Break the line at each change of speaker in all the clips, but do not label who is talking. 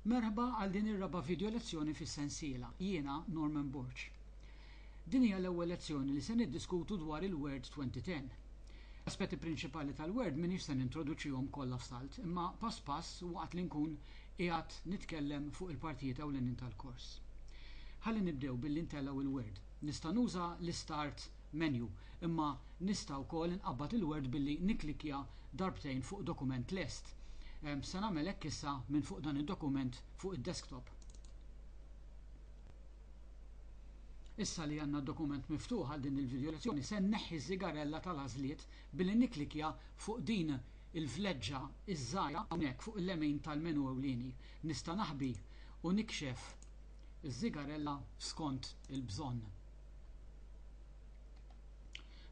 Merħba għal din ir-raba' video lezzjoni fis-sensiela Jiena Norman Borg. Din hija l-ewwel lezzjoni li se niddiskutu dwar il-Word 2010. L-aspetti prinċipali tal-Word m'iniex se nintroduċihom kollha f'salt, imma pass pass waqt li nkun qiegħed nitkellem fuq il-partijiet ewlenin tal-kors. Ħalli nibdew billi ntellgħu l-Word. Nista' nuża l-istart Menu, imma nista' wkoll inqabbad il-word billi nikklikkja darbtejn fuq dokument lest. Se nagħmel hekk issa minn fuq dan id-dokument fuq id-desktop. Issa li għandna d-dokument miftuħ għal din il-vidjolezzjoni, se nneħħi ż-żigarella tal-għażliet billi nikklikkja fuq din il-vleġġa ż-żgħira hawnhekk fuq il-lemin tal-menu ewlieni. Nista' naħbi u nikxef iż-żigarella skont il-bżonn.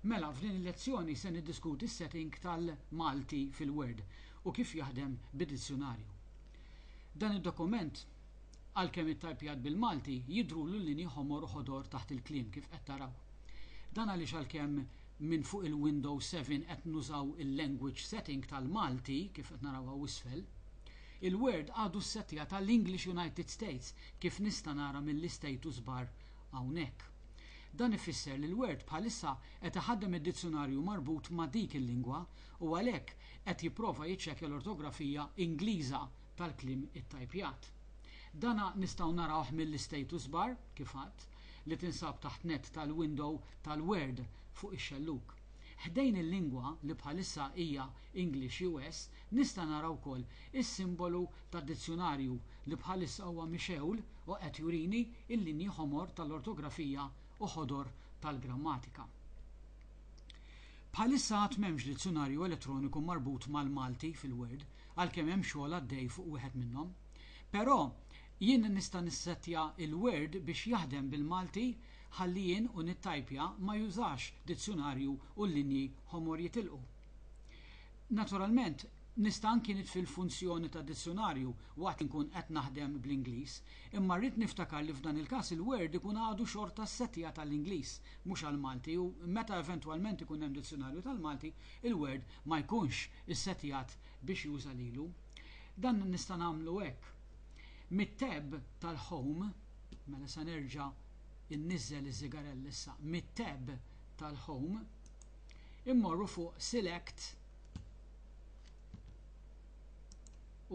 Mela, f'din il-lezzjoni se niddiskuti s-setting tal-Malti fil-Word u kif jaħdem bid-dizzjunarju. Dan id-dokument, għalkemm ittajpjat bil-Malti, jidhrulu l-linji ħomor u ħodor taħt il-kliem, kif qed taraw. Dan għaliex għalkemm minn fuq il-Windows 7 qed nużaw il-Language Setting tal-Malti, kif qed naraw hawn isfel, il-Word għadu ssettjat għall-English United States, kif nista' nara mill-istatus bar hawnhekk. Dan ifisser li l-Word bħalissa qed iħaddem id-dizzjunarju marbut ma' dik il-lingwa u għalhekk qed jipprova jiċċekkja l-ortografija Ingliża tal-kliem ittajpjat. Dan nistgħu narawh mill-istatus bar, kif għadt, li tinsab taħt nett tal-window tal-Word fuq ix-xellug. Ħdejn il-lingwa li bħalissa hija English US nista' nara wkoll is-simbolu tad-dizzjunarju li bħalissa huwa mixgħul u qed jurini l-linji ħomor tal-ortografija u ħodor tal-grammatika. Bħalissa għad m'hemmx dizzjunarju elettroniku marbut mal-Malti fil-Word, għalkemm hemm xogħol għaddej fuq wieħed minnhom. Però, jien nista' nissettja l-Word biex jaħdem bil-Malti Ħalli jien u nittajpja ma jużax dizzjunarju u l-linji ħomor jitilqu. Naturalment, nista' anki nitfi l-funzjoni ta' dizzjunarju waqt li nkun qed naħdem bl-Ingliż, imma rrid niftakar li f'dan il-każ il-Word ikun għadu xorta ssettijat għall-Ingliż, mhux għall-Malti u meta eventwalment ikun hemm dizzjunarju tal-Malti, il-Word ma jkunx issettijat biex juża lilu. Dan nista' nagħmlu hekk. Mit-tab tal-Home, Mela sa nerġa' inniżżel iż-żigarell issa mit-tab tal-Home. Immorru fuq Select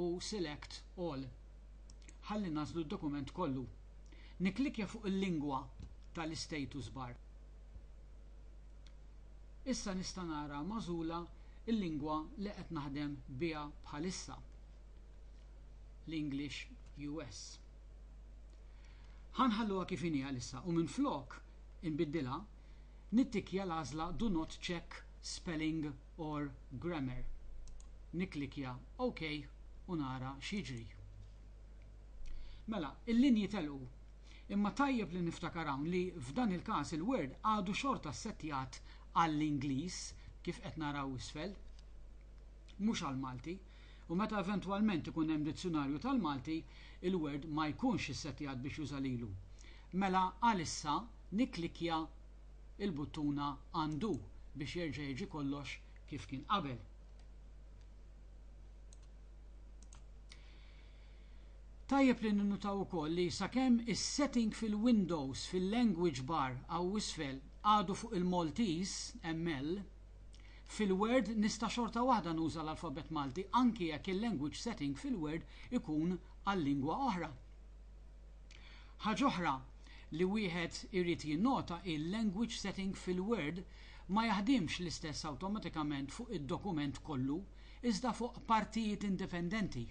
u Select All ħalli nagħżlu d-dokument kollu. Nikklikkja fuq il-lingwa tal-istatus bar. Issa nista' nara magħżula l-lingwa li qed naħdem biha bħalissa, l-English US. Ħa nħalluha kif inhi għalissa u minflok inbiddilha, nittikkja l-għażla Do not check spelling or grammar. Nikklikkja OK u nara x'jiġri. Mela, il-linji telqu. Imma tajjeb li niftakar hawn li f'dan il-każ il-Word għadu xorta ssettjat għall-Ingliż, kif qed naraw isfel, mhux għall-Malti. u meta eventwalment ikun hemm dizzjunarju tal-Malti, il-word ma jkunx issettjat biex juża lilu. Mela għalissa nikklikkja l-buttuna Undo biex jerġa' jiġi kollox kif kien qabel. Tajjeb li ninnutaw ukoll li sakemm is-setting fil-Windows fil-Language bar hawn isfel għadu fuq il-Maltese, ML, Fil-Word nista' xorta waħda nuża l-alfabett Malti anki jekk il-language setting fil-Word ikun għal lingwa oħra. Ħaġ'oħra li wieħed irid jinnota hi l-language setting fil-Word ma jaħdimx l-istess awtomatikament fuq id-dokument kollu iżda fuq partijiet indipendenti.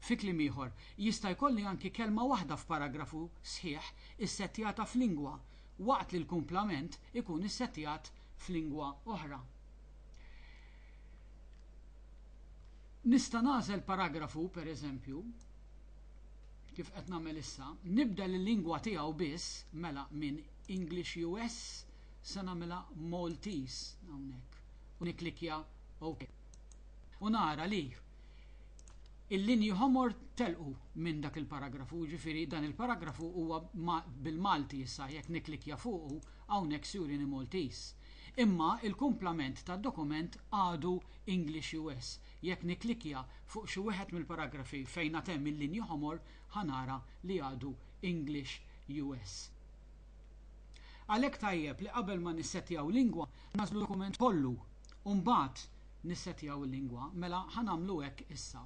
Fi kliem ieħor, jista' jkolli anki kelma waħda f'paragrafu sħiħ issettjata f'lingwa waqt li l-kumplament ikun issettjat f'lingwa oħra. Nista' nagħżel paragrafu, pereżempju, kif qed nagħmel issa, nibda l-lingwa tiegħu biss, mela minn English US se nagħmilha Maltese hawnhekk u nikklikkja OK. U nara li il-linji ħomor telqu minn dak il-paragrafu, ġifieri dan il-paragrafu huwa bil-Malti issa jekk nikklikkja fuqu Hawnhekk Surini Maltese. Imma il-kumplament tad-dokument għadu English US. Jekk nikklikkja fuq xi wieħed mill-paragrafi fejn għad hemm il-linji ħomor ħa nara li għadu English US. Għalhekk tajjeb li qabel ma nissettjaw lingwa nagħżlu d-dokument kollu u mbagħad nissettjaw il-lingwa. Mela ħa nagħmlu hekk issa.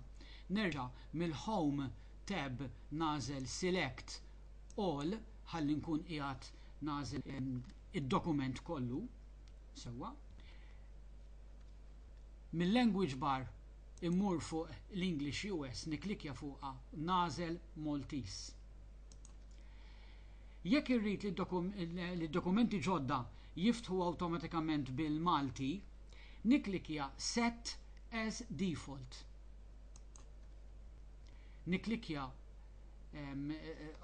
Nerġa' mill-Home tab nagħżel Select all ħalli nkun qiegħed nagħżel id-dokument kollu sewwa. Mil-language bar immur fuq l-English US nikklikkja fuqha nagħżel Maltese. Jekk irrid li d-dokumenti ġodda jiftħu awtomatikament bil-Malti, nikklikkja Set as Default. Nikklikkja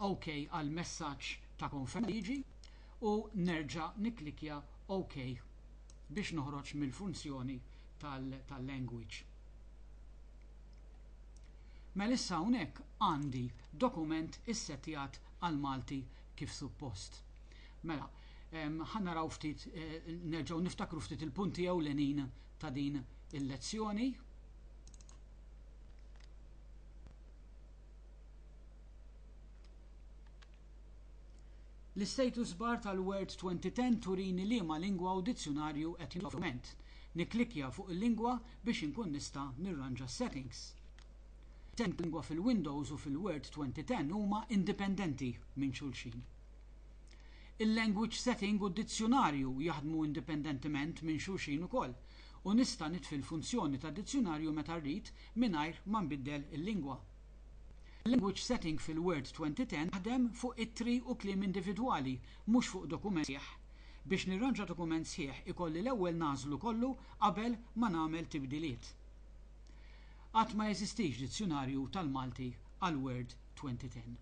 OK għal messaġġ ta' konferma liġi u nerġa' nikklikkja OK biex noħroġ mill-funzjoni tal-language. Mela issa hawnhekk għandi dokument issettjat għall-Malti kif suppost. Mela, ħa naraw ftit nerġgħu niftakru ftit il-punti ewlenin ta' din il-lezzjoni. L-istatus bar tal-Word 2010 turini liema lingwa u dizzjunarju qed jintuża f'dokument. Nikklikkja fuq il-lingwa biex inkun nista' nirranġa s-settings. Is-settings tal-lingwa fil-Windows u fil-Word 2010 huma indipendenti minn xulxin. Il-language setting u d-dizzjunarju jaħdmu indipendentement minn xulxin ukoll, u nista' nitfi l-funzjoni ta' dizzjunarju meta rrid mingħajr ma nbiddel il-lingwa. Language Setting fil-Word 2010 taħdem fuq ittri u kliem individwali, mhux fuq dokument sħiħ. Biex nirranġa dokument sħiħ ikolli l-ewwel nagħżlu kollu qabel ma nagħmel tibdiliet. Għad ma jeżistix dizzjunarju tal-Malti għall-Word 2010.